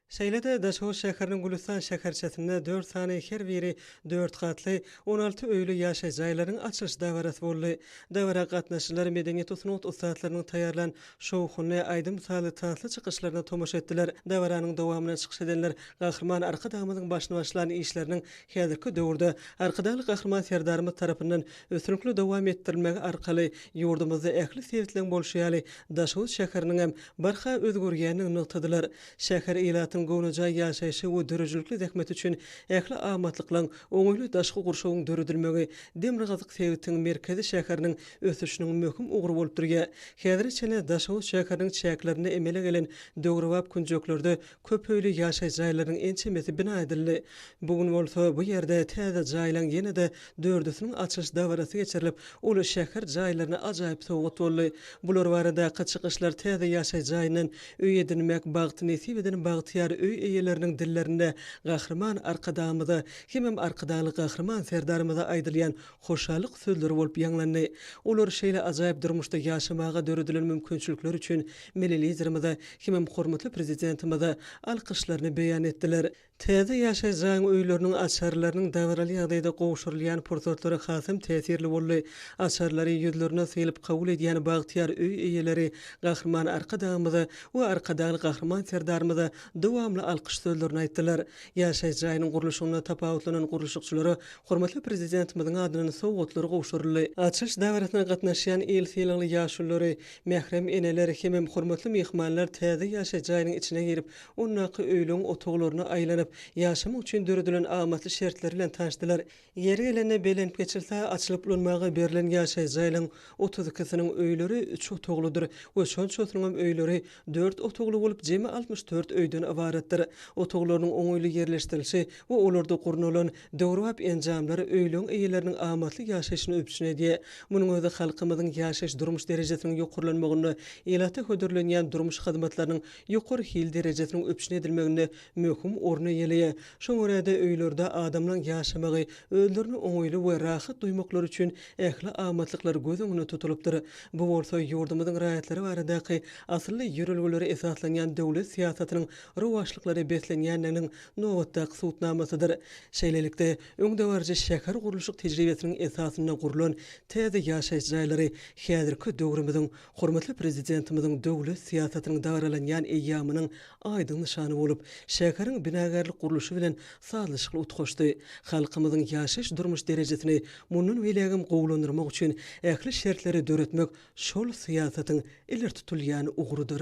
Şeýle-de Daşoguz şäheriniň Gülüstan şäherçesinde dört sany her biri dört gatly, on alty öýli ýaşaýyş jaýlarynyň açylyş dabarasy boldy. Dabara gatnaşyjylar medeniýet-sungat ussatlarynyň taýýarlan şowhunly, aýdym-sazly, tansly çykyşlaryna tomaşa etdiler. Dabaranyň dowamynda çykyş edenler Gahryman Arkadagymyzyň başyny başlan işleriniň häzirki döwürde Arkadagly Gahryman Serdarymyz tarapyndan üstünlikli dowam etdirilmegi arkaly ýurdumyzda ähli sebitleň bolşy ýaly, Daşoguz şäheriniň hem barha özgerýändigini nygtadylar. Şäher ilatyň göwnejaý ýaşaýşy we döredijilikli zähmeti üçin ähli amatlyklaryň, oňaýly daşky gurşawyň döredilmegi demirgazyk sebitiň merkezi şäheriniň ösüşiniň möhüm ugry bolup durýar. Häzire çenli Daşoguz şäheriniň çäklerinde emele gelen döwrebap künjeklerde Köp öýli ýaşaýyş jaýlarynyň ençemesi bina edildi. Bu gün bolsa bu ýerde täze jaýlaň ýene-de dördüsiniň açylyş dabarasy geçirilip, ol şäher jaýlaryna ajaýyp sowgat boldy. Bular baradaky çykyşlar täze ýaşaýyş jaýyndan öý edinmek bagty nesip eden bagtyýar öý eýeleriniň dillerinde Gahryman Arkadagymyza hemem Arkadagly Gahryman Serdarymyza aýdylýan hoşallyk sözleri bolup ýaňlandy. Olar şeýle ajaýyp durmuşda ýaşamaga döredilen mümkinçilikler üçin Milli Liderimize hemem hormatly Prezidentimize alkyşlaryny beýan etdiler. Täze ýaşaýyş jaýyň öýleriniň açarlarynyň dabaraly ýagdaýda gowşurylýan pursatlary hasam täsirli boldy. Açarlary ýüzlerine sylyp kabul edýän bagtyýar öý eýeleri Gahryman Arkadagymyza we Arkadagly Gahryman Serdarymyza dowamly alkyş sözlerini aýtdylar. Ýaşaýyş jaýynyň gurluşygynda tapawutlanan gurluşykçylara hormatly Prezidentimiziň adyndan sowgatlar gowşuryldy. Açylyş dabarasyna gatnaşýan il sylagly ýaşululary, mährem eneler hemem hormatly myhmanlar täze ýaşaýyş jaýynyň içine girip, ondaky öýlügiň otaglaryna aýlanyp, ýaşamak üçin döredilen amatly şertler bilen tanşdylar. Ýeri gelende belent geçilse, açylyp ulanmaga berlen ýaşaýjy jaýlaryň otuz ikisiniň öýleri üç otaglydyr we şonçasynyňam öýleri dört otagly bolup, jemi altmyş dört öýden ybaratdyr. Otaglarynyň oňaýly ýerleşdirilişi we olarda gurnalan döwrebap enjamlar öýleriň eýeleriniň amatly ýaşaýşyny üpjün edýär. Munuň özi halkymyzyň ýaşaýyş-durmuş derejesiniň ýokarlanmagynda, ilata hödürlenýän durmuş hyzmatlarynyň ýokary hil derejesiniň üpjün edilmeginde möhüm orun eýeleýär. Şoňa görä-de, öýlerde adamlaň ýaşamagy, özlerini oňaýly we rahat duýmaklary üçin ähli amatlyklar göz öňünde tutulypdyr. Bu bolsa ýurdumyzyň raýatlary baradaky asylly ýörelgelere esaslanýan döwlet syýasatynyň rowaçlyklara beslenýändiginiň nobatdaky subutnamasydyr. Şeýlelikde, öňdebaryjy şähergurluşyk tejribesiniň esasynda gurlan täze ýaşaýyş jaýlary häzirki döwrümiziň Hormatly Prezidentimiziň döwlet syýasatynyň dabaralanýan eýýamynyň aýdyň nyşany bolup, şäheriň binagärlik-gurluşy bilen sazlaşykly utgaşdy. Halkymyzyň ýaşaýyş-durmuş derejesini mundan beýlägem gowulandyrmak üçin ähli şertleri döretmek şol syýasatyň ileri tutulýan ugrudyr.